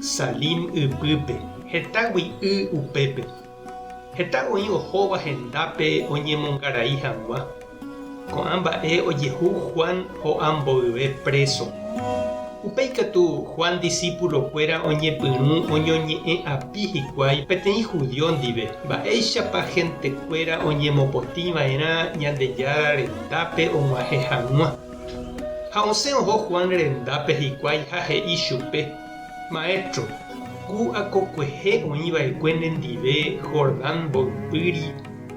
Salim ypýpe, hetágui y upépe. Heta oĩ ohóva hendápe oñemongarai hag̃ua. Ko'ã mba'e ojehu Juan ho'a mboyve préso. Upe ikatu Juan disípulokuéra oñepyrũ oñoñe'ẽ api hikuái peteĩ judio ndive, mba'éichapa hentekuéra oñemopotĩva'erã Ñandejára rendápe og̃uahẽ hag̃ua. Ha osẽ oho Juan rendápe hikuái ha he'i chupe, Maéstro, ku akokuehe oĩ va'ekue nendive Jordán mboypýri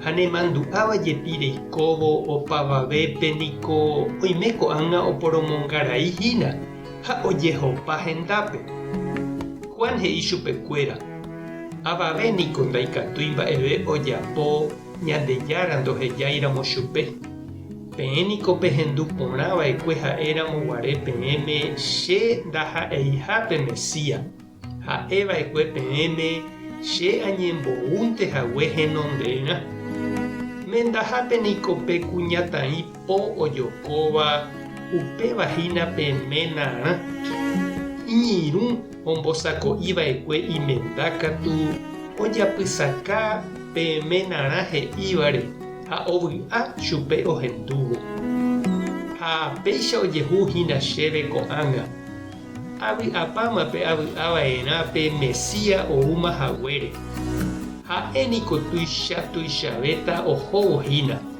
ha nemandu'áva jepi reikóvo opavavépe niko oime ko'ág̃a oporomongarai hína ha ojehopa hendápe. Juan he'i chupekuéra, Avave niko ndaikatúi mba'eve ojapo Ñandejára ndohejáiramo chupe, Peẽ niko pehendu porã va'ekue ha'éramo guare peẽme che ndaha'eiha pe Mesía, ha'e va'ekue peẽme che añemboúnte hague henonderã. Mendahápe niko pe kuñataĩ Po ojokóva upéva hína pe ména rã. Iñirũ ombosako'i va'ekue imenda katu ojapysaka pe ména rã he'ívare ha ovy'a chupe ohendúvo. Ha péicha ojehu hína chéve ko'ág̃a. Avy'apáma pe avy'a va'erã pe Mesía oúma haguére. Ha'e niko tuicha tuichavéta ohóvo hína.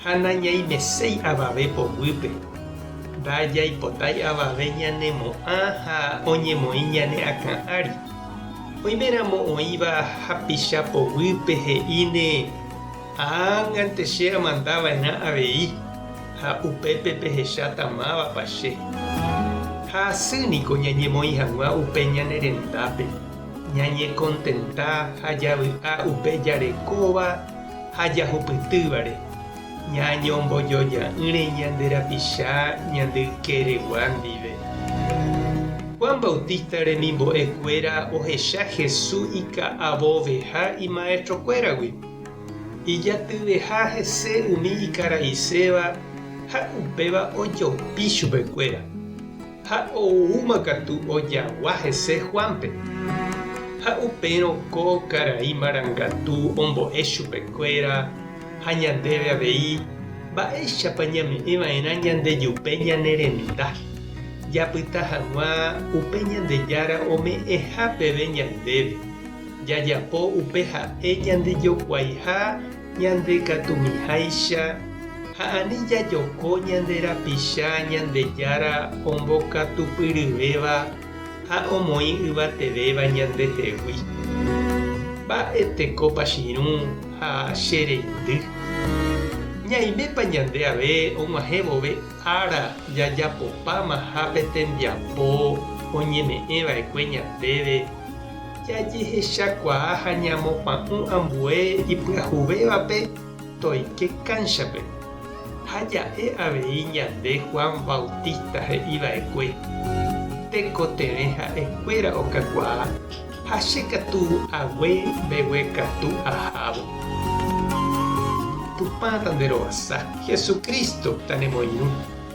Ha nañaimeséi avave poguýpe. Ndajaipotái avave ñanemo'ã ha oñemoĩ ñane akã ári. Oiméramo oĩva hapicha poguýpe he'íne, Ág̃ante che amanda va'erã avei, ha upépe pehecháta mávapa che. Ha asy niko ñañemoĩ hag̃ua upe ñane rendápe, ñañekontenta ha javy'a upe jarekóva ha jahupytývare, ñañombojoja'ỹre ñande rapicha ñande ykeregua ndive. Juan Bautista remimbo'ekuéra ohecha Hesu ika'avoveha imaestrokuéragui. Ijatyveha hese umi ikaraiséva ha upéva ojopi chupekuéra. Ha oúma katu ojagua hese Juánpe. Ha upérõ ko karai marangatu ombo'e chupekuéra, ha ñandéve avei, mba'éichapa ñame'ẽ va'erã ñandejupe ñane renda, japyta hag̃ua upe Ñandejára ome'ẽha peve ñandéve, jajapo upe ha'e ñandejokuaiha Ñande katumiháicha ha ani jajoko ñande rapicha Ñandejára ombokatupyryvéva ha omoĩ yvatevéva ñandehegui. Mba'e tekópa chirũ ha che reindy? Ñaimépa ñande ave og̃uahẽ vove ára jajapopáma ha pe tembiapo oñeme'ẽva'ekue ñandéve? Jajehechakuaa ha ñamopa'ũ ambue ipyahuvévape toike kánchape, ha ja'e avei ñande Juan Bautista he'iva'ekue, Tekotevẽ ha'ekuéra okakuaa, ha che katu ague mbeguekatu ahávo. Tupã tanderovasa, Jesucristo tanemoirũ.